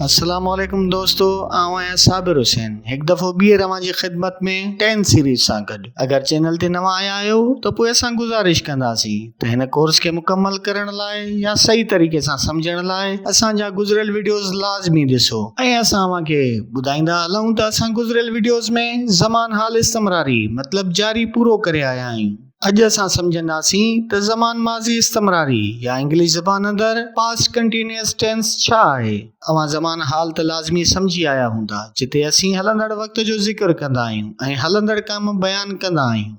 السلام عليڪم دوستو آئون آهيان صابر حسين هڪ دفعو ٻيهر اوهان جي خدمت ۾ ٽين سيريز سان گڏ اگر چينل تي نوان آيا آهيو ته پوء اسان گذارش ڪنداسين ته هن ڪورس کي مڪمل ڪرڻ لاء يا صحيح طريقي سان سمجهڻ لاء اسان جا گذريل وڊيوز لازمي ڏسو ۽ اسان اوهان کي ٻڌائيندا هلون ته اسان گذريل وڊيوز ۾ زمان حال استمراري مطلب جاري پورو ڪري آيا آهيون. اڄ اسان سمجهنداسين ته زمان ماضي استمراري يا انگلش زبان اندر Past Continuous Tense ڇا آهي. اوهان زمان حال ته لازمي سمجهي آيا هوندا جتي اسين هلندڙ وقت جو ذڪر ڪندا آهيون ۽ هلندڙ ڪم بيان ڪندا آهيون.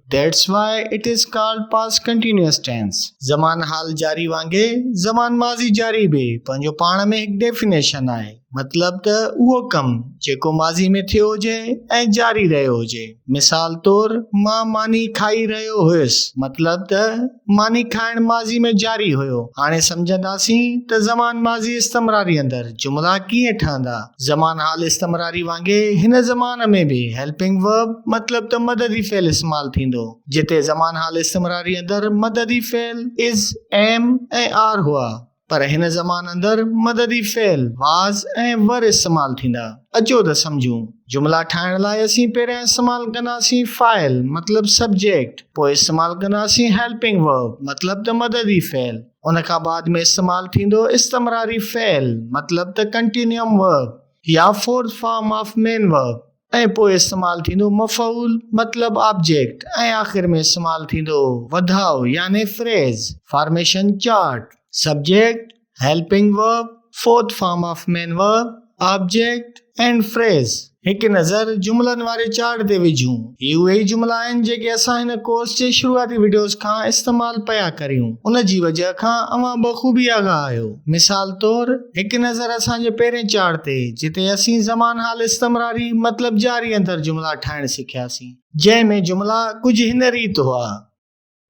That's why it is called past continuous tense. زمان حال جاري وانگي زمان ماضي جاري به پنهنجو پاڻ ۾ هڪ ڊيفينيشن آهي. مطلب ته اهو ڪم جيڪو ماضي ۾ ٿيو هجي ۽ جاري رهيو هجي. مثال طور مان ماني کائي رهيو هيس مطلب ته ماني کائڻ ماضي ۾ جاري هيو. هاڻي سمجهنداسين ته زمان ماضي استمراري اندر جملا ڪيئن ٺهندا. زمان حال استمراري وانگي هن زمان ۾ به هيلپنگ ورب مطلب ته مددي فعل استعمال ٿيندو. جتي زمان حال استمراري اندر مددي فعل Is، Am ۽ Are هئا پر هن زمان اندر مددي فعل واز ۽ ور استعمال ٿيندا. اچو ته سمجهون. جملا ٺاهڻ لاء اسين پهريان استعمال ڪنداسين فاعل مطلب سبجيڪٽ، پوء استعمال ڪنداسين هيلپنگ ورب مطلب ته مددي فعل، ان کان بعد ۾ استعمال ٿيندو استمراري فعل مطلب ته ڪنٽينيوم ورب يا fourth form of main verb. ۽ پوء استعمال ٿيندو مفعول مطلب آبجيڪٽ ۽ آخر ۾ استعمال ٿيندو وڌاء يعني phrase formation chart subject helping verb fourth form of main verb object and phrase. هڪ نظر جملن واري چارٽ تي وجهون. هي اهي ئي جملا آهن جيڪي اسان هن ڪورس جي شروعاتي وڊيوز کان استعمال پيا ڪريون. ان جي وجهه کان اوهان بخوبي آگاهه آهيو. مثال طور هڪ نظر اسان جي پهرين چاڙ تي جتي اسين زمان حال استمراري مطلب جاري اندر جملا ٺاهڻ سکياسين جنهن ۾ جملا ڪجهه هن ريت هئا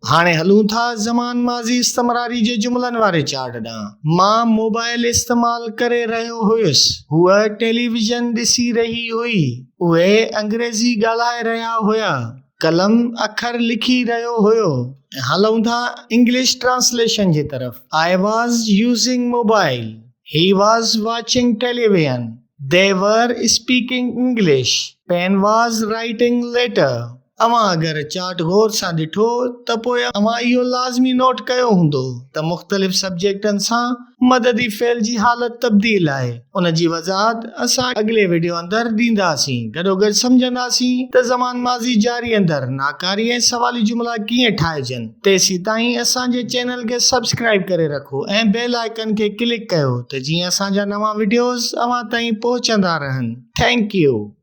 هاڻي هلون ٿا زمان ماضي استمراري جي جملن واري چاڙ ڏانهن مان موبائل استعمال ڪري رهيو هيس هوء ٽيليويزن ڏسي رهي هئي اهي انگريزي ڳالهائي رهيا هيا. قلم اکر لکي رهيو هيو ۽ هلون ٿا انگلش ٽرانسليشن جي طرف I was using mobile he was watching television they were speaking English pen was writing letter اوهان اگر چارٽ غور سان ڏٺو ته پوء اوهان اهو لازمي نوٽ ڪيو هوندو ته مختلف سبجيڪٽن سان مددي فعل جي حالت تبديل آهي ان جي وضاحت اسان اڳلي وڊيو اندر ڏينداسين گڏوگڏ سمجهنداسين ته زمان ماضي جاري اندر ناڪاري ۽ سوالي جملا ڪيئن ٺاهجن تيسيتائين اسان جي چينل کي سبسڪرائب ڪري رکو ۽ بيل آئيڪن کي ڪلڪ ڪيو ته جيئن اسان جا نوان وڊيوز اوهان تائين پهچندا رهن ٿينڪ يو.